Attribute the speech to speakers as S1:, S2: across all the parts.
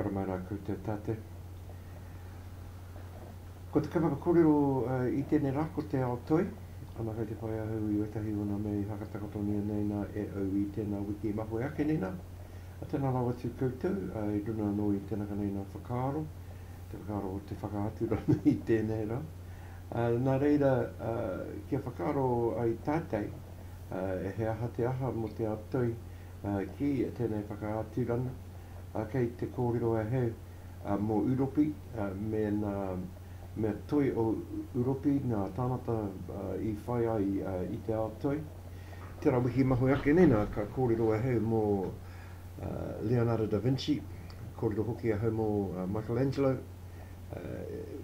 S1: Tara mai rā koutou tātou. Ko te kaupapa kōrero i tēnei rā ko Te Ao Toi. Ana kei te whai ahau i wētahi o ngā mea i whakatakotonia nei nā e au i tēnā wiki i mahue ake nei nā. Tēnā rawa atu koutou i runa anō i tēnā ka nei nā whakaaro, te whakaaro o te whakaatu rānei i tēnei rā. Nā reira, kia whakaaro ai tātau he aha te aha mō te ao toi ki tēnei whakaaturanga, kei te kōrero ahau mō Uropi mēnā mea toi o Uropi ngā tāngata i whai ai i te ao toi. Te Rawihi Mahue ake nei, nā, ka kōrero ahau mō Leonardo da Vinci, kōrero hoki ahau mō Michelangelo,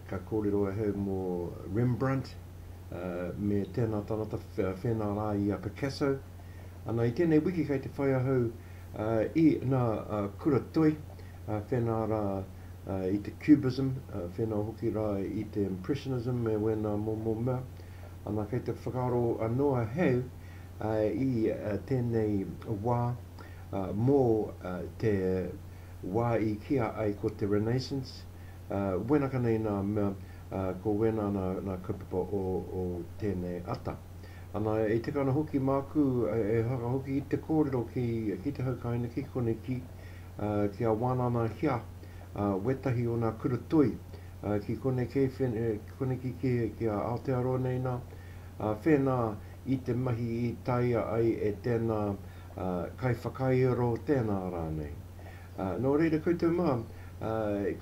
S1: Ka kōrero ahau mō Rembrandt me tēnā tāngata whēnā rā i a Picasso. Ana, i tēnei wiki kei te whai ahau i nā kura toi whēnā rā i te Cubism, whēnā hoki rā i te Impressionism me wēnā momo mea. Ana, kei te whakaaro anō ahau i tēnei wā mō te wā i kīa ai ko te Renaissance, ā, wēnaka nei nā mea, ā, ko wēnā nā, nā kaupapa o, o tēnei ata. Ana, e tika ana hoki māku e whakahoki i te kōrero ki, ki te haukaina, ki koneki, ā, ki a Wānana Hia, ā, wētahi o nā kura toi, ā, ki konekei, whene, ki koneki ki, ki a Aotearoa nei nā, ā, whēnā i te mahi i taea ai e tēnā, ā, kaiwhakaiaro tēnā rānei. Ā, nō reira koutou mā, ā,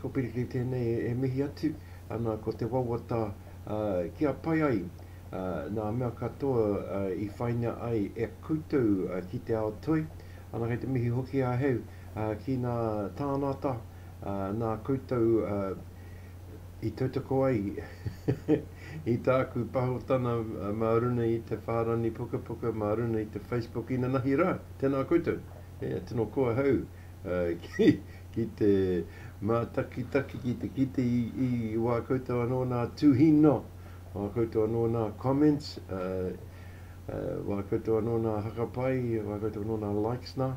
S1: ko Pirikiri tēnei e mihi atu ana ko te wawata, ā, kia pai ai, ā, nā mea katoa, ā, i whaina ai e koutou, ā, ki te ao toi. Ana kei te mihi hoki ahau, ā, ki nā tānata, ā, nā koutou, ā, i tautoko ai i tāku pahotana mā runa i te whārani pukapuka, mā runa i te Facebook inanahi rā. Tēnā koutou, e, tino koa hau ki, ki te mātakitaki, ki te kite i, i wā koutou anō nā tūhino, wā koutou anō nā comments, wā koutou anō nā hakapai, wā koutou anō nā likes nā.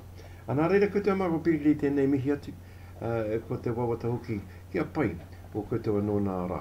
S1: Nā reira koutou mā ko Piriri tēnei mihi atu. ā, ko te wawata hoki kia pai, ko koutou anō nā rā.